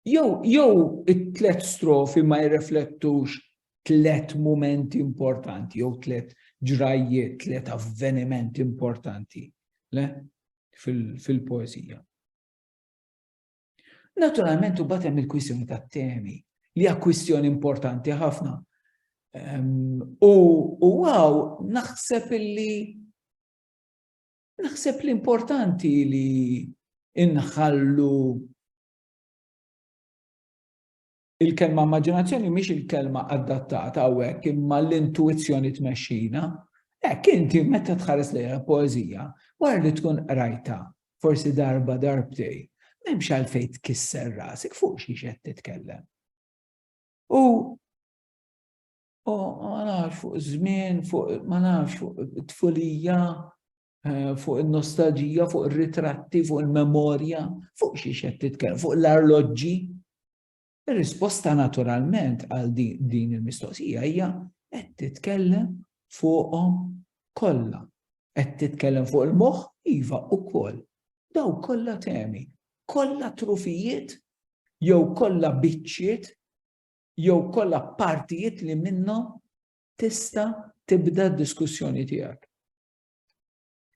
Jew jew it-tlet strofi ma jirreflettux tlet momenti importanti, jew tlet ġrajjiet, tlet avvenimenti importanti le? fil-poezija. Fil Naturalment u batem il-kwistjoni ta' temi li hija kwistjoni importanti ħafna. Um, u għaw naħseb illi Naħseb li importanti li inħallu il-kelma immaġinazzjoni mhix il-kelma adattata hawnhekk imma l-intuizzjoni tmexxina. Hekk inti meta tħares lejha poeżija, wara li tkun qrajta forsi darba darbtej, m'hemmx għalfejn tkisser rasek fuq xi qed titkellem. U Oh, ma nafx fuq żmien, fuq ma nafx fuq tfulija, eh, fuq il-nostalġija, fuq il-ritratti, fuq il-memorja, fuq xi xed titkellem, fuq l-arloġġi. Ir-risposta naturalment għal din il-mistoqsija hija qed titkellem fuqhom kollha. Qed titkellem fuq il-moħħ iva ukoll. Daw kollha temi, kollha trufijiet jew kollha biċċiet jew kollha partijiet li minnhom tista' tibda d-diskussjoni tiegħek.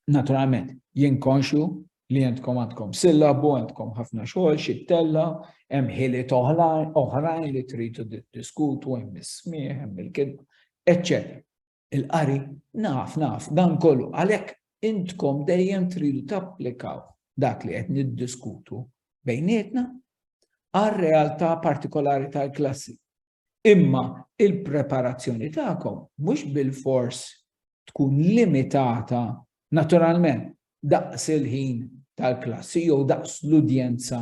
Naturalment, jien konxju li jentkom għandkom sillabu, għandkom ħafna xogħol, xittella, hemm ħiliet oħrajn li tridu diskutu, hemm is-smieħ, hemm il-kidba, eċċetera. il-qari. Naf, naf, dan kollu. Għalhekk intkom dejjem tridu tapplikaw dak li qed niddiskutu bejnietna għal-realtà partikolari tal-klassi. Imma il-preparazzjoni tagħkom mhux bil-fors tkun limitata naturalment daqs il-ħin tal-klassi jew daqs l-udjenza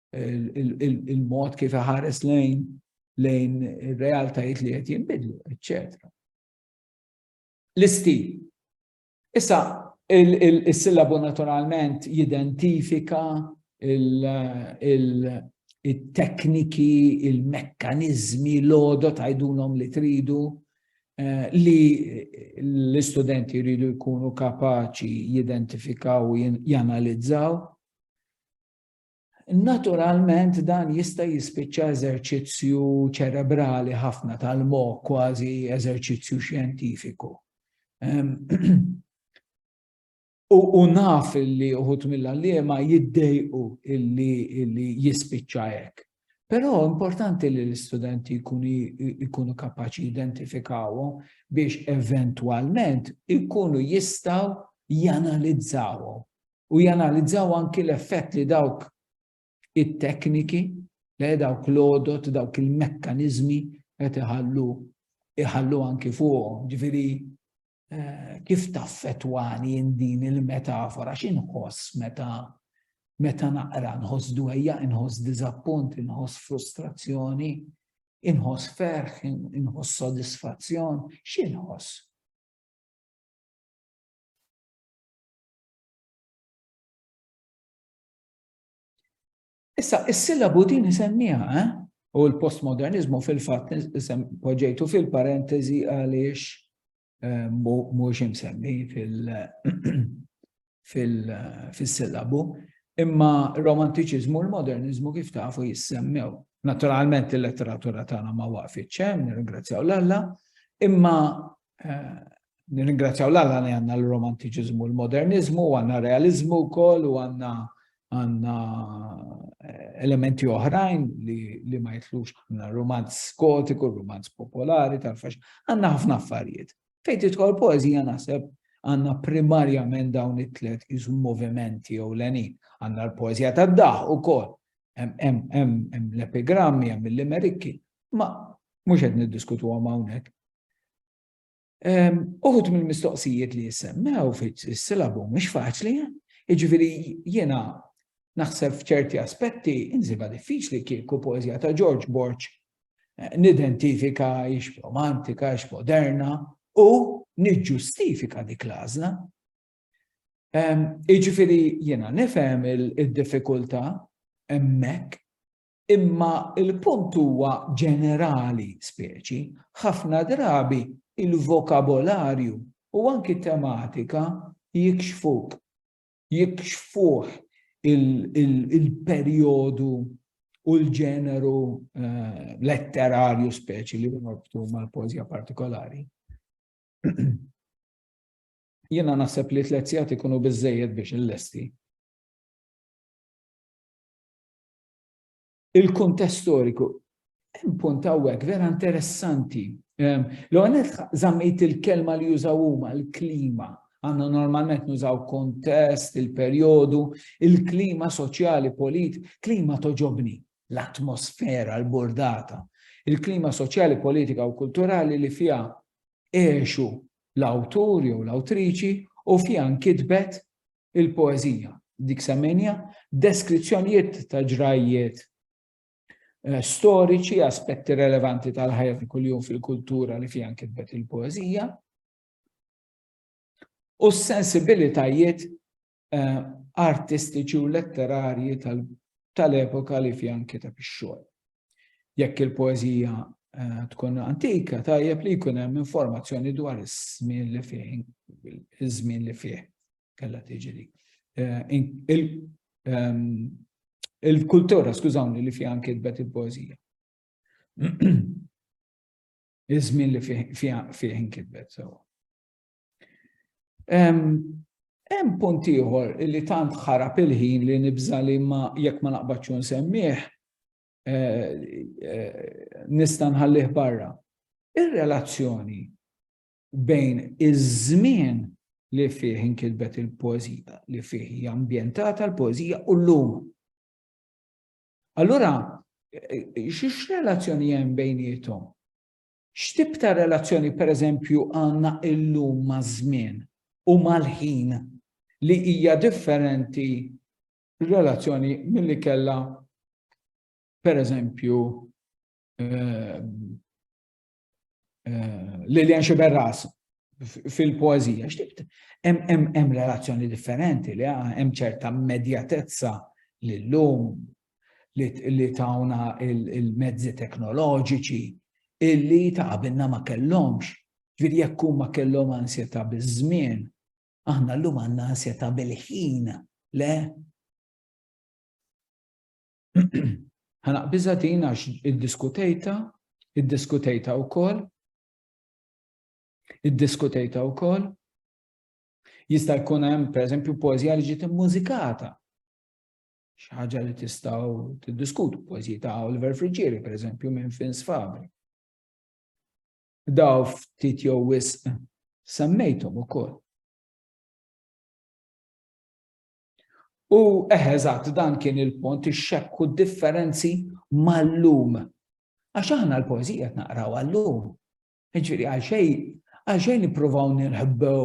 il-mod kif iħares lejn lejn ir-realtajiet li qed jinbidlu, eċċetera. L-istil. Issa, il-sillabu naturalment jidentifika il-tekniki, il-mekkanizmi, l-odo tajdulhom li tridu eh, li l-istudenti jridu jkunu kapaċi jidentifikaw u janalizzaw Naturalment dan jista' jispiċċa eżerċizzju ċerebrali ħafna tal-moħħ kważi eżerċizzju xjentifiku. Ehm, u naf li uħut mill-għalliema jiddejqu illi jispiċċa hekk. Però importanti li l-istudenti jkunu kapaċi identifikawhom biex eventwalment ikunu jistaw janalizzawhom u janalizzaw anki l-effett li dawk it-tekniki, li dawk l-odot, dawk il-mekkaniżmi qed iħallu iħallu anki fuqhom. Ġifieri eh, kif taffetwani din il-metafora x'inħoss meta meta naqra nħoss dwejja, inħoss diżappunt, inħoss frustrazzjoni, inħoss ferħ, inħoss sodisfazzjon, x'inħoss? Issa, is-sillabu din isemmiha, eh? u l-postmodernizmu fil-fatt poġġejtu fil-parentesi għaliex eh, mhux imsemmi fil-sillabu, imma romantiċiżmu u l-modernizmu kif tafu jissemmew. Naturalment il-letteratura tagħna ma waqfitx hemm, nirringrazzjaw l-Alla, imma Nirringrazzjaw l-Alla li għandna l-romantiċiżmu, l-moderniżmu, u għandna realiżmu wkoll u għandna għandna eh, elementi oħrajn li, li ma jitlux għandna romanz skotiku, romanz popolari tal-fax, għandna ħafna affarijiet. Fejn tidħol poezija naħseb għandna primarjament dawn it-tlet iżu movimenti jew lenin. Għandna l-poezija tad-daħ ukoll. Hemm l-epigrammi, hemm l-limerikki, ma mhux qed niddiskutu hawnhekk Uħud mill-mistoqsijiet li jissemmew fis-silabu mhux faċli, jiġifieri jiena naħseb f'ċerti aspetti inżibha diffiċli kieku poeżija ta' George Borg eh, nidentifika ix romantika, ix moderna u niġġustifika dik l-għażla. Jiġifieri jiena nifhem id-diffikultà hemmhekk Imma l-punt huwa ġenerali, speċi, ħafna drabi il-vokabolarju u anki t-tematika jikxfuk, jikxfuh il-perjodu u l-ġeneru letterarju speċi li norbtu mal-poezija partikolari. Jiena naħseb li tliet sigħat ikunu biżżejjed biex illesti. il-kuntest storiku. Hemm punt hawnhekk vera interessanti. Ehm, L-għonet zammejt il-kelma li jużaw huma l-klima. Għanna normalment nużaw kontest, il-perjodu, il-klima soċjali, polit, klima toġobni, l-atmosfera, l-bordata, il-klima soċjali, politika u kulturali li fija eħxu l-awtur jew l-awtriċi u fija nkitbet il-poeżija, dik semmenja, deskrizzjonijiet ta' ġrajjiet eh, storiċi, aspetti relevanti tal-ħajja ta' kuljum fil-kultura li fiha kitbet il-poeżija, u s-sensibilitajiet eh, artistiċi u letterarji tal-epoka li fiha kiteb ix-xogħol. Jekk il-poeżija eh, tkun antika, tajjeb li jkun hemm informazzjoni dwar iż-żmien li fih, iż-żmien li fih kellha tiġi li. Eh, ehm, il-kultura, skużawni, li fiha kitbet il-poeżija. Iż-żmien li fih kitbet, sewa. Hemm punt ieħor li tant ħarab il-ħin li nibża li ma jekk ma naqbadx nsemmih eh, eh, nista' nħallih barra. Ir-relazzjoni bejn iż-żmien li fih inkitbet il-poezija, li fih hija ambjentata l-poezija u l-lum. Allura, xiex relazzjoni hemm bejnietom? X'tip ta' relazzjoni, pereżempju, għandna llum maż-żmien u mal-ħin li hija differenti r-relazzjoni milli kellha, pereżempju, Lilian Sciberras fil-poeżija? X'tip hemm relazzjoni differenti li hemm ċerta immedjatezza li llum li tawna il-mezzi teknoloġiċi illi ta' qabilna ma kellhomx. Ġifieri jekk huma kellhom ansjetà biż-żmien, aħna llum għandna ansjetà bil-ħin, le? Ħanaqbiżha din għax iddiskutejta, iddiskutejta wkoll, iddiskutejta wkoll. Jista' jkun hemm pereżempju poeżija li ġiet immużikata. Xaħġa li tistaw t-diskutu, poezija ta' Oliver Friggieri, per eżempju, minn Fins Fabri. Daw ftit jew wisq semmejthom ukoll. U eħeżat dan kien il-pont ix-xekku differenzi mal-lum. Għax aħna l-poezija naqraw għal-lum. Ġifieri għal xejn għal xejn nippruvaw nirħbew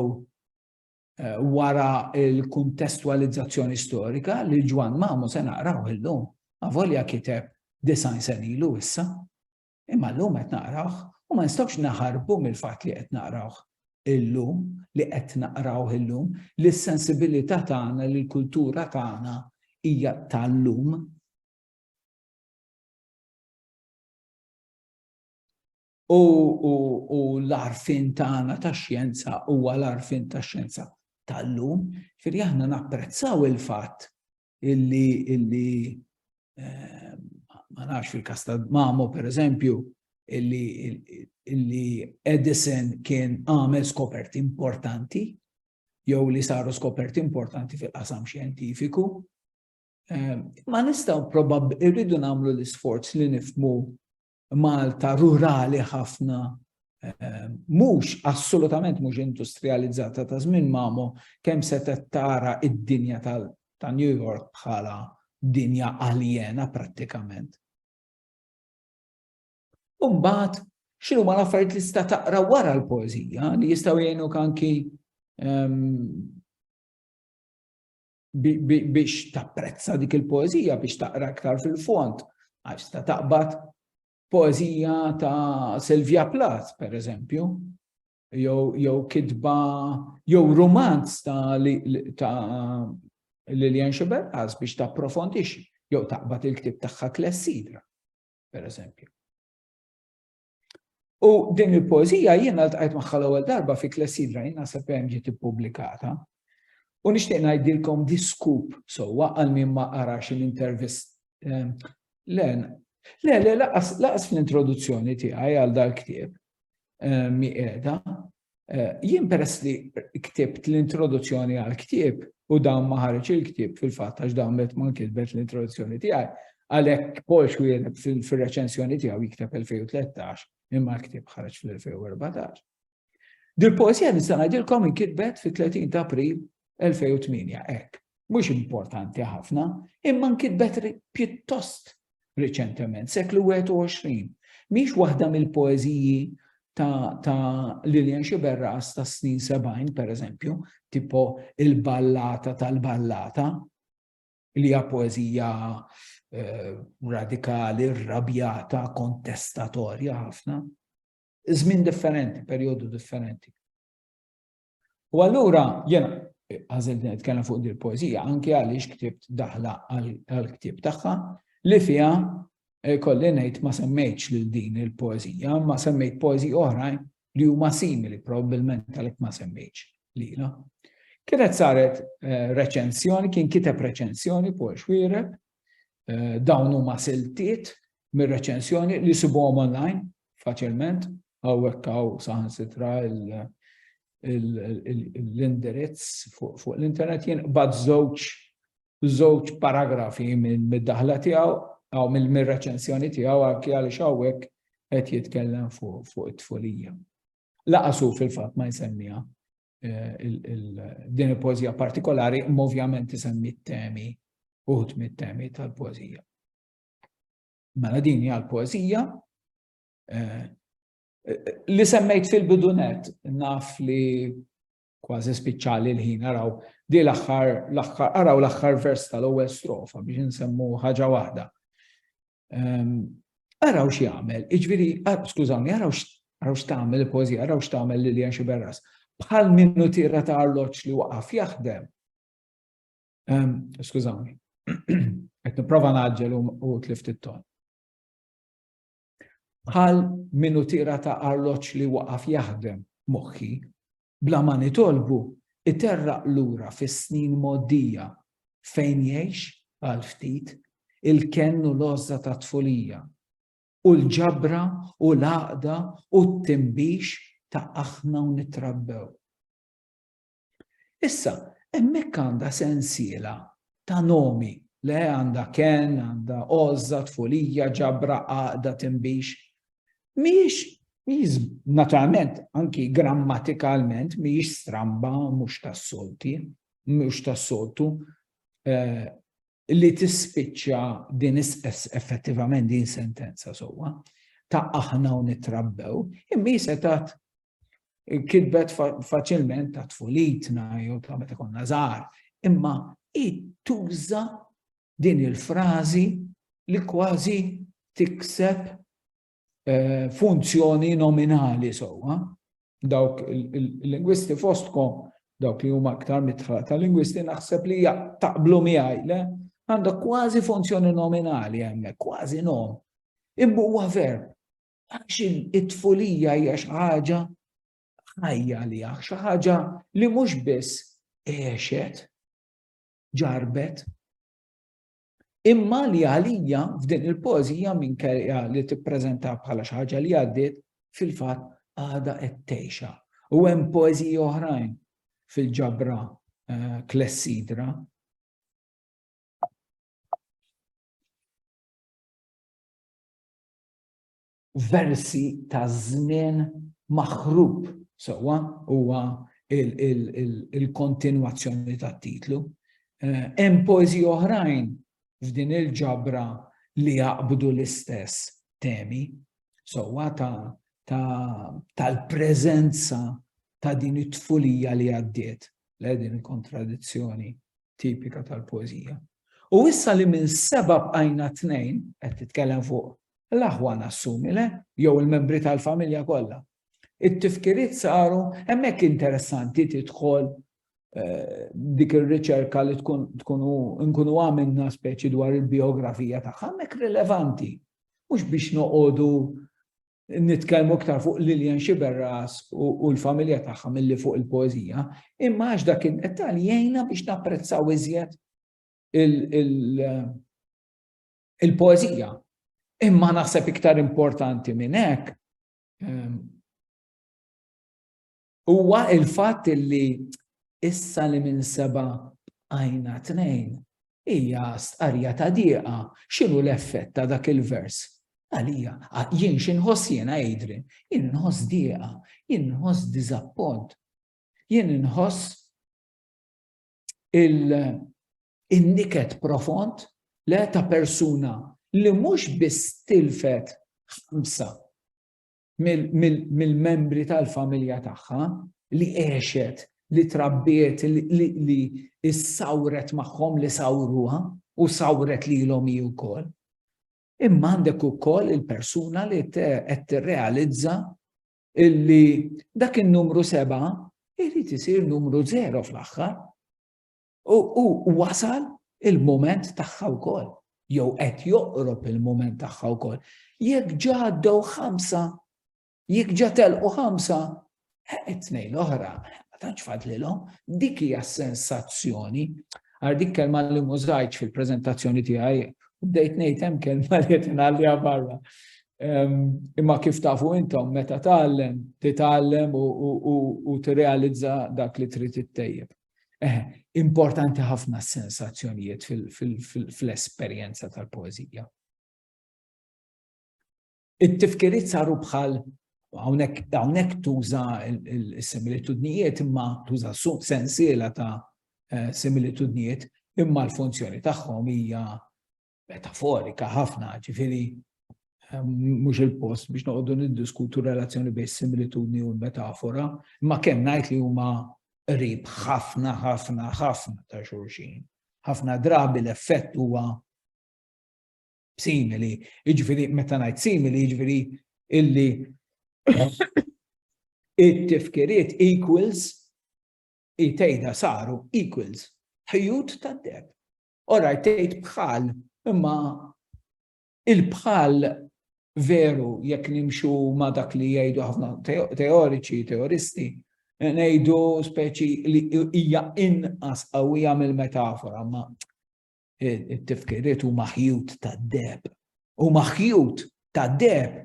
wara l-kuntestwalizzazzjoni storika li Ġwann Mamu se naqrawh illum, avolja kiteb disgħin sena ilu issa. Imma llum qed naqrawh u ma nistgħux naħarbu mill-fatt li qed naqrawh illum, li qed naqrawh illum, li s-sensibilità tagħna, li l-kultura tagħna hija tal-lum. U, u, u l-arfin tagħna ta' xjenza huwa l-arfin ta' xjenza tal-lum, firri aħna napprezzaw il-fatt illi, illi eh, ma nafx fil-kas ta' Mamo per eżempju, illi, illi Edison kien għamel skoperti importanti, jew li saru skoperti importanti fil-qasam xjentifiku. Eh, ma nistaw probab irridu namlu l-isforz li nifmu Malta rurali ħafna, mhux assolutament mhux industrijalizzata ta' żmien Mamo, kemm setgħet tara d-dinja ta' New York bħala dinja aljena prattikament. U mbagħad x'inhuma l-affarijiet li tista' taqra wara l-poeżija li jistgħu jgħinuk anki biex tapprezza dik il-poezija, biex taqra iktar fil-font, għax ta' taqbad poezija ta' Silvia Plath, per eżempju, jew kitba, jew romanz ta' Lilian Xiberqas biex ta' profondix, jew taqbad il-ktib tagħha Klessidra, per eżempju. U din il-poezija jiena ltqajt magħha l-ewwel darba fi Klessidra jiena se hemm ġiet ippubblikata. U nixtieq ngħidilkom diskup sewwa għal min ma qarax l-intervist. Ehm, le, le, le, laqas fl-introduzzjoni tiegħi għal dal-ktieb ehm, mi qiegħda, Jien peress li ktibt l-introduzzjoni għall-ktieb u dawn ma ħareġ il-ktieb fil-fatt għax dawn qed ma nkitbet l-introduzzjoni tiegħi, għalhekk Paul Schwiener fir-reċensjoni tiegħu jikteb 2013 imma l-ktieb ħareġ fl-2014. Dil-poesija nista' ngħidilkom inkitbet fit-30 ta' April 2008, hekk. Mhux importanti ħafna, imma nkitbet pjuttost riċentement, seklu 21. Mhix waħda mill-poeżiji ta', ta Lilian Xiberras ta' snin 70, per eżempju, tipo il-ballata tal-ballata, li hija poeżija eh, radikali, rabjata, kontestatorja ħafna. Żmien differenti, perjodu differenti. U allura jena għażilt nitkellem fuq dil poezija anke għaliex ktibt daħla għall-ktieb tagħha li fiha eh, kolli ngħid ma semmejtx lil din il poezija ma semmejt poezija oħrajn li huma simili probabbilment għalhekk ma semmejtx lila. Kienet saret eh, reċensjoni, kien kiteb reċensjoni Paul Xwireb Dawn huma siltiet mir-reċensjoni li sibuhom online faċilment, hawnhekk hawn saħansitra l-indirizz fuq l-internet jien bad żewġ żewġ paragrafi mid-daħla tiegħu aw mill-reċensjoni tiegħu anke għaliex hawnhekk qed jitkellem fuq it-tfulija. Laqasu fil-fatt ma jsemmiha din il-poezija partikolari, ovvjament isemmi t-temi, uħut mit-temi tal-poezija. Mela din hija l-poezija eh, li semmejt fil-bidunet naf li kważi spiċċali l-ħin araw di l-aħħar l-aħħar araw l-aħħar vers tal-ewwel strofa biex insemmu ħaġa waħda. Ehm, araw x'jagħmel, iġviri, skużawni, araw x'tagħmel il-pożija, araw x'tagħmel Lilian Xiberras. Bħal minnu tira ta' arloġġ li waqaf jaħdem. Ehm, skużawni, qed nipprova naġġel u tlift it-ton. Bħal minnu tira ta' arloġġ li waqaf jaħdem moħħi Bla ma nitolbu, iterraq lura fis-snin mgħoddija fejn jgħix, għal ftit, il-kenn u l-għożża tat-tfulija, u l-ġabra u l-għaqda u t-tinbix ta' aħna u nittrabbew. Issa, hemmhekk għandha sensiela ta' nomi, le għandha kenn, għandha għożża, tfulija, ġabra, għaqda, tinbix, mhijiex mhijiex naturalment anki grammatikalment mhijiex stramba mhux tas-solti, mhux tas-soltu eh, li tispiċċa din effettivament din sentenza sewwa ta' aħna u nitrabbew, imma jisetat kitbet faċilment ta' tfulitna jew ta' meta konna żgħar, imma tuża din il-frażi li kważi tikseb eh, funzjoni nominali sewwa. Dawk il-lingwisti fostkom, dawk li huma aktar mitħla ta' lingwisti naħseb li taqblu miegħi le għandha kważi funzjoni nominali hemmhekk, kważi nom. Imma huwa verb. Għax it-tfulija hija xi ħaġa ħajja li xi ħaġa li mhux biss għexet, ġarbet. Imma li għalija f'din il-pożija minkejja li tippreżenta bħala xi ħaġa li għaddiet fil-fatt għada qed tgħixha. U hemm poeżiji oħrajn fil-ġabra eh, klessidra versi ta' żmien maħrub sewwa huwa il-kontinwazzjoni tat-titlu. Hemm poeżiji oħrajn f'din il-ġabra li jaqbdu l-istess temi sewwa tal-preżenza ta' din it-tfulija li għaddiet, le din il-kontradizzjoni tipika tal-poeżija. U issa li minn seba' bqajna tnejn, qed titkellem fuq L-aħwa nassumi le, jew il-membri tal-familja kollha. It-tifkiriet saru hemmhekk interessanti tidħol eh, dik ir-riċerka li tkun tkunu nkunu għamilna speċi dwar il-biografija tagħha hemmhekk rilevanti. Mhux biex noqogħdu nitkellmu iktar fuq Lilian Xiberras u l-familja tagħha milli fuq il-poeżija, imma għax dak id-dettal jgħinna biex napprezzaw iżjed il- il-poeżija. Imma naħseb iktar importanti minn hekk ehm, huwa il-fatt li issa li minn seba għajna tnejn hija stqarja ta' dieqa x'inhu l-effett ta' dak il-vers. Għalija, jien x'inħoss jiena jidri, jien inħoss dieqa, jien inħoss diżappont, jien inħoss il-niket profond le ta' persuna li mhux biss tilfet ħamsa mill-membri tal-familja tagħha li għexet, li trabbiet, li issawret magħhom li sawruha u sawret lilhom hi wkoll. Imma għandek ukoll il-persuna li qed tirrealizza illi dak in-numru seba' irid isir numru zero fl-aħħar. U wasal il-moment tagħha wkoll, jew qed joqrob il-moment tagħha wkoll. Jekk ġaddew ħamsa, jekk ġa telqu ħamsa, it-tnejn eh, l-oħra, ma tantx fadlilhom, dik hija sensazzjoni. Għar dik kelma li mużajċ fil-preżentazzjoni tiegħi, u bdejt ngħid hemm kelma li qed ingħalliha barra. Imma kif tafu intom meta tgħallem, titgħallem u tirrealizza dak li trid ittejjeb. Eh, importanti ħafna s-sensazzjonijiet fl-esperjenza tal-poeżija. It-tifkiriet saru bħal hawnhekk tuża s-similitudnijiet imma tuża sensiela ta' eh, similitudnijiet imma l-funzjoni tagħhom hija metaforika ħafna, ġifiri ehm, mhux il-post biex noqogħdu niddiskutu relazzjoni bejn similitudni u l-metafora, imma kemm ngħid li huma qrib ħafna ħafna ħafna ta' xulxin. Ħafna drabi l-effett huwa simili, jiġifieri meta ngħid simili jiġifieri illi it-tifkiriet equals it-tejda saru equals ħjut tad-deb. Orajt tgħid bħal, imma il-bħal veru jekk nimxu ma' dak li jgħidu ħafna teoriċi, teoristi, ngħidu speċi li hija inqas qawwija mill-metafora, ma it-tifkiriet huma ħjut tad-deb. Huma ħjut tad-deb.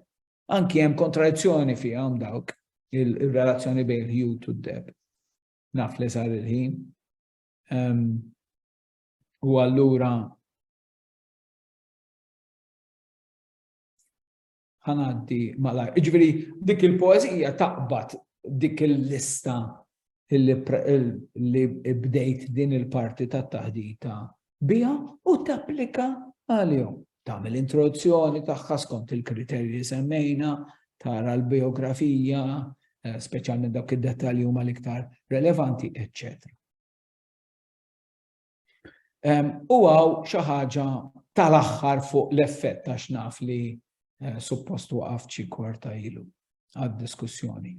Anki hemm kontradizzjoni fihom dawk il-relazzjoni bejn il-ħjut u d-deb. Naf li sar il-ħin. Ehm, u allura ħanaddi malaj. Iġveri, dik il-poezija taqbad dik il-lista li bdejt din il-parti ta' taħdita bija u tapplika għal-jom. Tamil introduzzjoni taħħa skont il-kriterji semmejna, tara l-biografija, eh, specialment dawk id-detalji huma l-iktar relevanti, eccetera. U għaw xaħġa tal-axħar fuq l-effett ta' xnaf li eh, suppost waqaf ċi korta ilu għad-diskussjoni.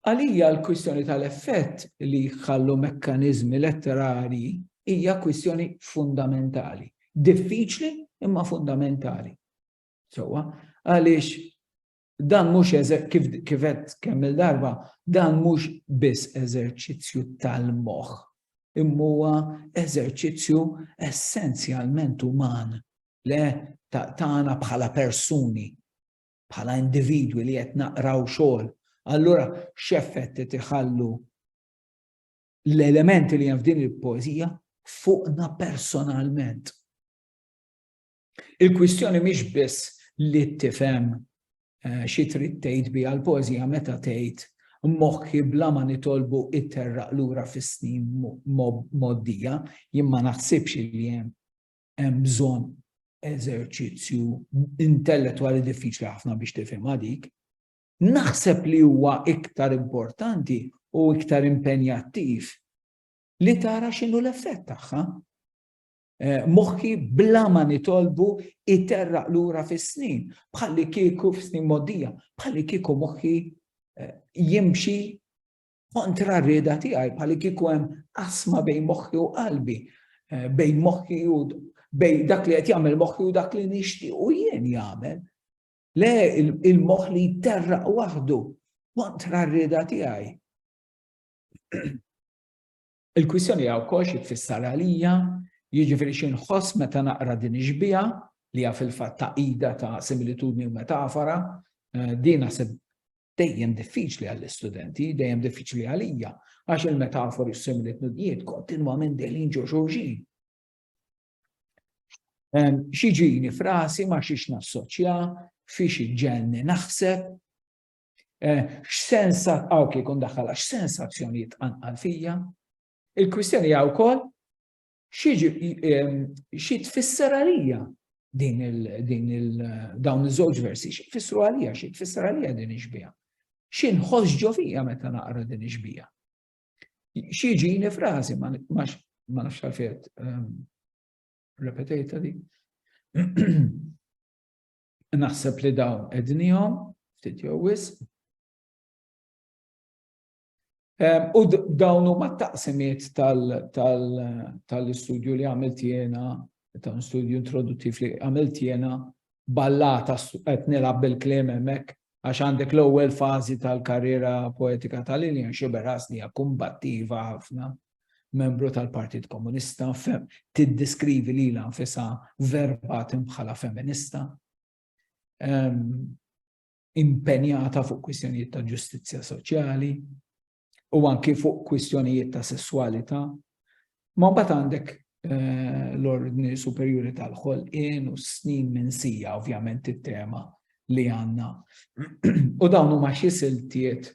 Għalija l-kwistjoni tal-effett li jħallu mekkanizmi letterari hija kwistjoni fundamentali. Diffiċli imma fundamentali. Sowa, għaliex dan mhux kif kif qed kemm il-darba, dan mhux biss eżerċizzju tal-moħħ, imma huwa eżerċizzju essenzjalment uman, le tagħna bħala persuni, bħala individwi li qed naqraw xogħol. Allura x'effett qed iħallu l-elementi li hemm f'din il-poeżija fuqna personalment. Il-kwistjoni mhix biss li tifhem eh, xi trid tgħid biha l-poeżija meta tgħid moħħi bla ma nitolbu it-terraq lura fis-snin moddija, jien ma naħsibx li hemm hemm bżonn eżerċizzju intellettwali diffiċli ħafna biex tifhem dik. Naħseb li huwa iktar importanti u iktar impenjattiv li tara x'inhu l-effett tagħha. Moħħi bla ma nitolbu iterraq lura fis-snin, bħalli kieku f'snin moddija, bħalli kieku moħħi eh, jimxi kontra r-rieda tiegħi, bħalli kieku hemm asma bejn moħħi u qalbi, eh, bejn moħħi u bejn dak li qed jagħmel moħħi u dak li nixtieq u jien jagħmel. Le il-moħħ li jterraq waħdu kontra r-rieda tiegħi. Il-kwistjoni hija wkoll xi tfisser għalija, jiġifieri xi nħoss meta naqra din ix-xbieha, li hija fil-fatt tagħqida ta' similitudni u metafora. Din naħseb dejjem diffiċli għall-istudenti, dejjem diffiċli għalija, għax il-metafori u s-similitudnijiet kontinwament dejjem ġo xulxin. Xi ġini frasi ma xiex nassoċja, fi xi ġenni naħseb, X'sens hawn kif ikun daħħalha x'sens azzjonijiet tqanqal fija? Il-kwistjoni hija wkoll xi tfisser għalija din il-dawn iż-żewġ versi, xi tfissru għalija, xi tfisser għalija din ix-xbija. Xi nħoss ġo fija meta naqra din ix-xbija. Xi ġini frażi ma nafx għalfejn ehm, repetejta di. Naħseb li dawn ednihom, ftit jew wisq. U dawn huma t-taqsimiet tal-istudju li għamilt jiena, ta' studju introduttiv li għamilt jiena ballata qed nilgħab bil-kliem hemmhekk għax għandek l-ewwel fażi tal-karriera poetika ta' Lillian Xibera hija kumbattiva ħafna membru tal-Partit Komunista, tiddeskrivi lilha nfisha verbat bħala feminista, impenjata fuq kwistjonijiet ta' ġustizzja soċjali u anki fuq kwistjonijiet ta' sessualità. Ma mbagħad għandek eh, l-ordni superjuri tal-ħolqien u snin minn sija ovvjament it-tema li għanna. u dawn huma xi siltiet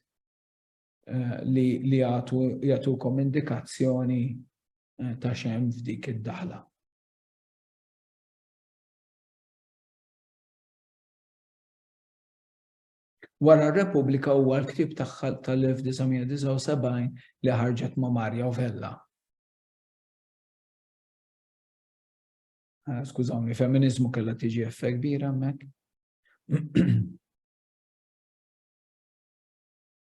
eh, li li jagħtukom indikazzjoni eh, ta' xem f'dik id-daħla. Wara r-Repubblika huwa l-ktib tagħha tal-1979 li ħarġet ma' Marja Vella. Eh, skużawni, feminizmu kellha tiġi effekt kbira hemmhekk.